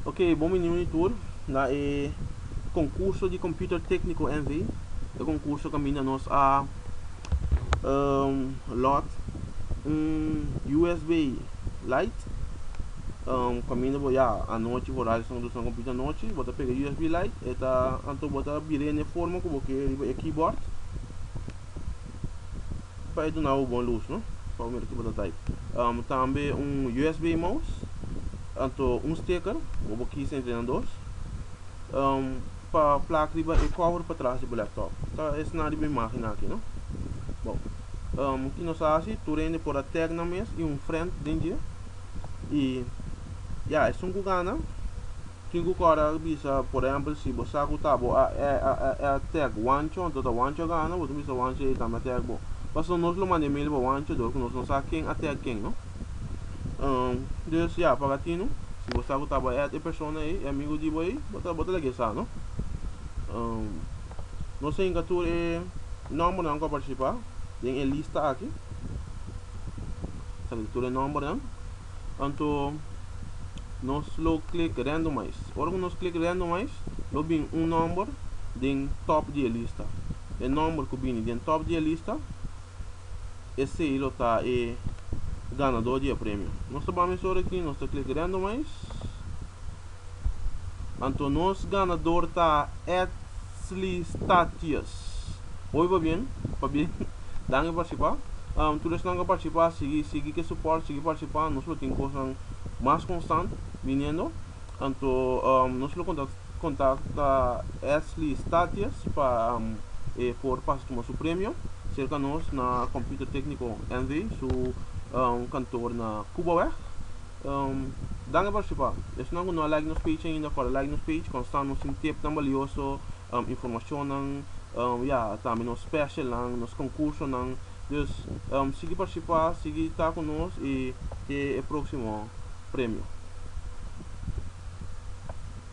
Ok, bon biniu e tur na e concurso di computer tecnico NV. E concurso caminda nos a um, lot un USB light um, caminda bo ya anochi bo radio san dusan computer anochi bo ta pega USB light e ta anto bo ta bire ne forma ku bo ke riba e keyboard bai duna bo bon lus no pa bo mira ki bo ta type um, tambe un usb mouse anto un sticker bo bo kis entre nan dos um, pa plak riba e cover pa tras di bo laptop ta es na riba imagen aki no bo um, ki nos asi tu rende por a tag nan mes i un friend den dje i ya esun ku gana Kin ku kòrda a bisa, por ehèmpel, si bo sa ku ta bo a e a e a tèk Wancho, anto ta Wancho a gana, bo tin bisa Wancho ei tambe a tèk bo. Pasobra nos lo manda e mail pa Wancho dor ku nos no sa ken a tèk ken, no? Um, dus ya, pa Latino, si bo sa ku ta bo a èt e persona ei, e amigu di bo ei, bo ta bo ta laga e sa, no? Um, nos a hinka tur e nòmbernan ku a partisipá den e lista aki. Sali tur e nòmbernan. Anto nos lo click randomize. Ora cu nos click randomize lo bin un nomber den top di e lista. E nomber cu bini den top di e lista esey lo ta e ganador di e premio. Nos ta bami sor aki, nos ta click randomize. Anto nos ganador ta Ed. Slistacious. Oiba bien, pabia dan e participa. Tur esnan cu a participa sigui sigui cu e support, sigui participa. Nos lo tin cosnan mas constant biniendo. Anto nos lo contacta Slistacious pa e por pasa tuma su premio cerca nos na Computer Tecnico NV su kantoor na Cubaweg. Danki pa partisipa. Esnan ku no a like nos page ainda por a like nos page konstant nos tin tip nan balioso, informashonnan, ya tambe nos specialnan, nos konkursonan. Dus sigui partisipa, sigui ta ku nos i ke e proksimo premio.